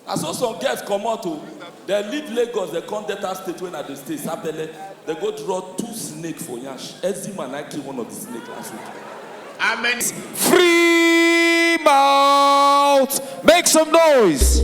Na so some girls comot o, dem leave Lagos dem come Delta state wey I dey stay, Sapele, dem go draw two snake for yansh, Eczema na im kill one of the snake last week. How many Free mouth, make some noise.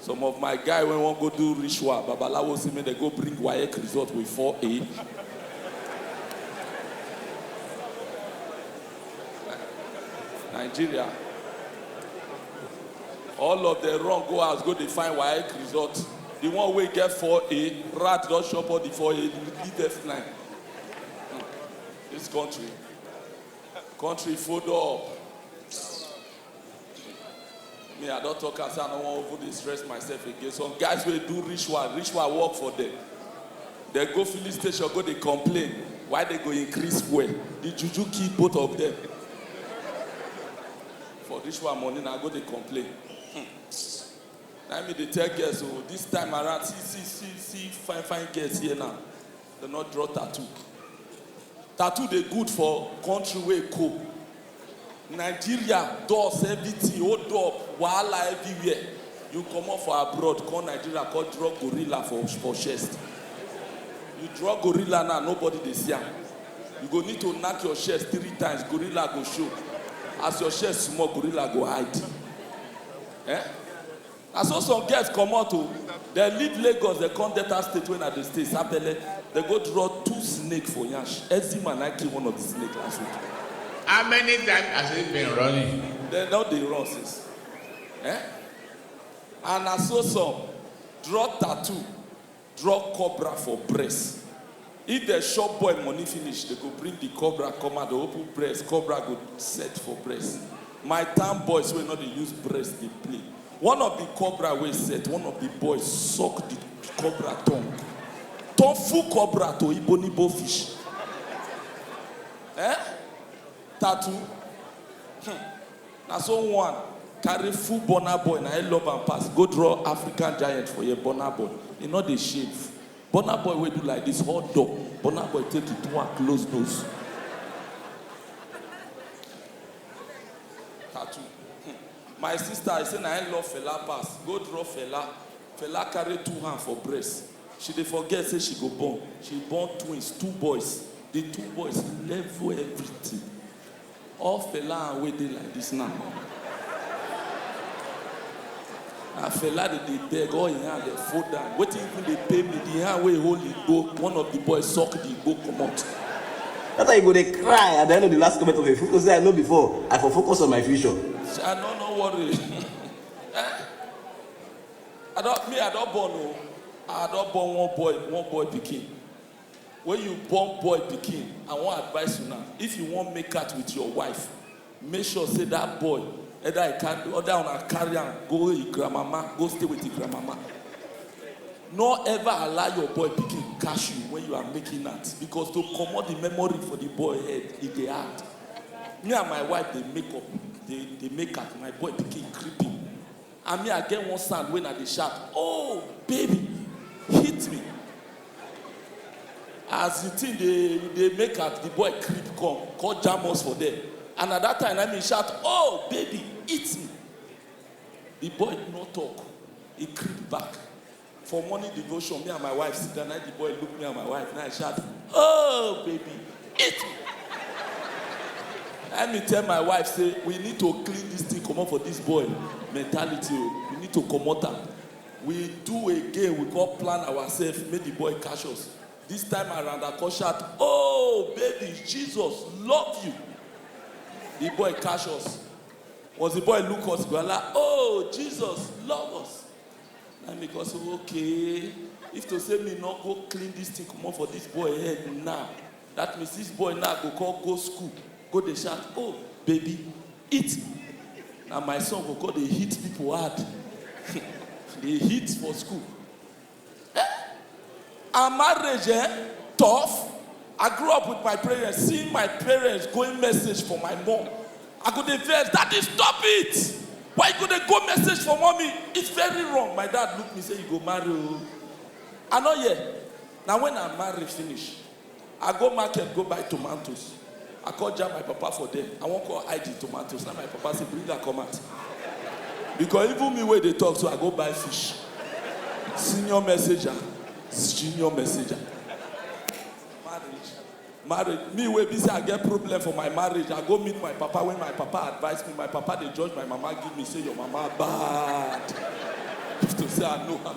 Some of my guy wey wan go do ritual, babalawo say make dem go bring waec result with four A. Nigeria. All of dem run go house go dey find waec result. The one wey get four A, rat don chop all the four A, leave dem fly. This country, country fold up. me i don talk am say i no wan even dey stress myself again some guys wey do ritual ritual work for them dem go filling station go dey complain why dem go increase fuel the juju kill both of them for ritual money na go dey complain hmm. na me dey tell girls o oh, this time around see see see see fine fine girls here now Dem no draw tattoo. Tattoo dey good for country wey cold. Nigeria dust everything hold up wahala everywhere. You comot for abroad come Nigeria come draw gorilla for for chest. You draw gorilla now nobody dey see am. You go need to knack your chest three times gorilla go show. As your chest small gorilla go hide. Eh? Na so some girls comot o, dem leave Lagos dem come Delta state wey I dey stay, Sapele, dem go draw two snake for yansh, Eczema na im kill one of the snake last week. How many times has he been running? Dem don dey run since eh, and na so some draw tattoo. Drop cobra for breast If dem shop boy money finish Dem go bring the cobra come out Dem open breast cobra go set for breast My town boys wey no dey use breast dey play One of the cobra wey set One of the boys suck the cobra tongue Turn full cobra to ibonibo fish Eh? Tattoo? Hmmm Na so one carry full burna boy na him love am pass go draw African giant for here burna boy he no dey shave burna boy wey do like this hot dog burna boy take he do am close nose tattoo hmm. my sister I say na him love fella pass go draw fella fella carry two hand for breast she dey forget say she go born she born twins two boys the two boys level everything. All Fela and wey dey like this now Na Fela dem dey beg all him hand dem fold am wetin even dey pain me the hand wey hold the igbo one of the boys suck the igbo comot. That's why you go dey cry at the end of the last comment of a fool to say I know before I for focus on my future. Sha no no worry eh I don me I don born oo I don born one boy one boy pikin. When you born boy pikin, I wan advice una, if you wan make out with your wife, make sure say that boy either e carry either una carry am go e grandmama go stay with e grandmama. No ever allow your boy pikin catch you when you are making out because to comot the memory for the boy head e dey hard. Me and my wife dey make up dey dey make out, my boy pikin creeping. And me I get one sound when I dey shout oh baby hit me as the thing dey dey make at the boy creep come come jam us for there and at that time na me shout oh baby hit me the boy no talk he creep back For morning devotion, me and my wife sit down, na the boy look me and my wife, na I shout, oh baby, eat me. Let me tell my wife say, we need to clean this thing comot for this boy mentality o, we need to comot am. We do again, we come plan ourselves, make the boy catch us. This time around, I come shout, oh baby, Jesus love you. The boy catch us. Once the boy look us, we are like, oh Jesus love us. na me go say okay if to say me no go clean this thing comot for this boy head now that means this boy now go come go school go dey shout oh baby eat na my son go come dey hit people hard dey hit for school Her marriage eh, tough. I grew up with my parents, seeing my parents going message for my mom. I go dey vex, daddy stop it! Why you go dey go message for mommy? It's very wrong. My dad look me say you go marry o. I no hear. Na when I marry finish, I go market go buy tomatoes, I come jam my papa for there, I wan come hide the tomatoes, na im my papa say bring am come out. Because even me wey dey talk so, I go buy fish. Senior messenger, junior messenger. Marriage, marriage, me wey be say I get problem for my marriage, I go meet my papa when my papa advice me, my papa dey judge my mama give me say your mama bad. If to say I know am.